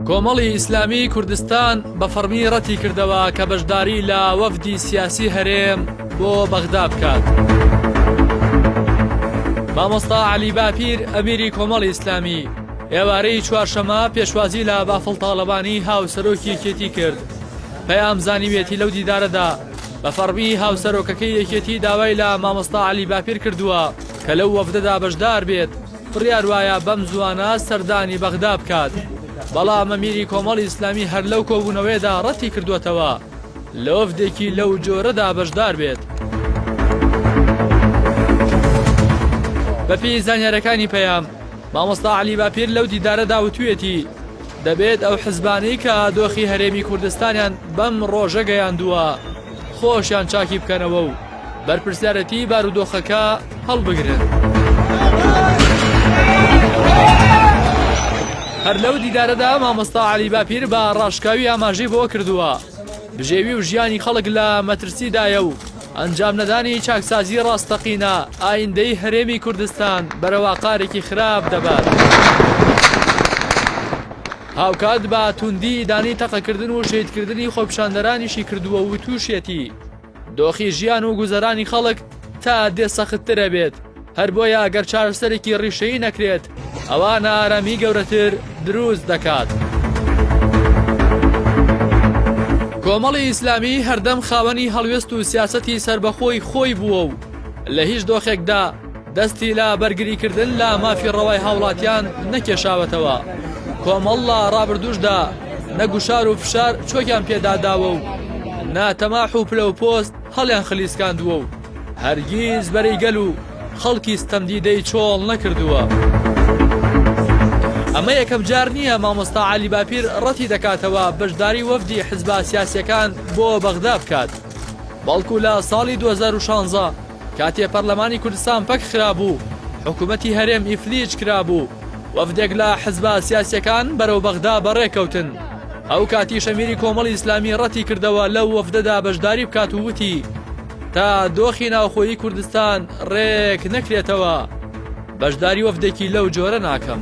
کۆمەڵی ئیسلامی کوردستان بە فەڕمی ڕەتی کردەوە کە بەشداری لە وەفدی سیاسی هەرێم بۆ بەغدا بکات. مامۆستا علی باپیر ئەمیری کۆمەڵ ئیسلامی ئێوارەی چوارشەمە پێشوازی لە بافڵ تاڵەبانی هاوسەرۆکی یەکێتی کرد پەیام زانیوێتی لەو دیدارەدا بە فەڕمی هاوسەرۆکەکەی یەکێتی داوای لە مامۆستا علی باپیر کردووە کە لەو وەفدەدا بەشدار بێت بڕیار وایە بەم زووانە سەردانی بەغدا بکات، بەڵام ئەمیری کۆمەڵی ئیسلامی هەر لەو کۆبوونەوەیەدا ڕەتی کردووەتەوە لە وەفدێکی لەو جۆرەدا بەشدار بێت. بەپێی زانیارییەکانی پەیام، مامۆستا عەلی باپیر لەو دیدارەدا وتوویەتی، دەبێت ئەو حزبانەی کە دۆخی هەرێمی کوردستانیان بەم ڕۆژە گەیاندووە، خۆشیان چاکی بکەنەوە و بەرپرسیارێتی بارودۆخەکە هەڵبگرن. هەر لەو دیدارەدا مامۆستا علی باپیر بە ڕاشکاوی ئاماژەی بۆ کردووە بژێوی و ژیانی خەڵک لە مەترسیدایە و ئەنجام نەدانی چاکسازی ڕاستەقینە ئایندەی هەرێمی کوردستان بەرەواقارێکی خراپ دەبات. هاوکات بە توندی ئیدانەی تەقەکردن و شەهیدکردنی خۆپیشاندەرانیشی کردووە و تووشیەتی، دۆخی ژیان و گوزەرانی خەڵک تا دێ سەختتر ئەبێت، هەر بۆیە ئەگەر چارەسەرێکی ڕیشەیی نەکرێت ئەوا نائارامی گەورەتر دروست دەکات. کۆمەڵی ئیسلامی هەردەم خاوەنی هەڵوێست و سیاسەتی سەربەخۆی خۆی بووە و لە هیچ دۆخێکدا، دەستی لە بەرگریکردن لە مافی ڕەوای هاوڵاتیان نەکێشاوەتەوە، کۆمەڵ لە ڕابردووشدا نە گوشار و فشار چۆکیان پێداداوە و نە تەماح و پلە و پۆست هەڵیان خلیسکاندووە و هەرگیز بەرەی گەل و خەڵکی ستەمدیدەی چۆڵ نەکردووە. ئەمە یەکەم جار نییە مامۆستا عەلی باپیر ڕەتی دەکاتەوە بەشداری وەفدی حزبە سیاسییەکان بۆ بەغدا بکات، بەڵکو لە ساڵی دوە هەزار و شانزە، کاتێ پەرلەمانی کوردستان پەک خرابوو، حکوومەتی هەرێم ئیفلیج کرابوو، وەفدێک لە حزبە سیاسییەکان بەرەو بەغدا بەڕێ کەوتن. ئەو کاتیش ئەمیری کۆمەڵی ئیسلامی ڕەتی کردەوە لەو وەفدەدا بەشداری بکات و وتی، تا دۆخی ناوخۆیی کوردستان ڕێک نەکرێتەوە، بەشداری وەفدێکی لەو جۆرە ناکەم.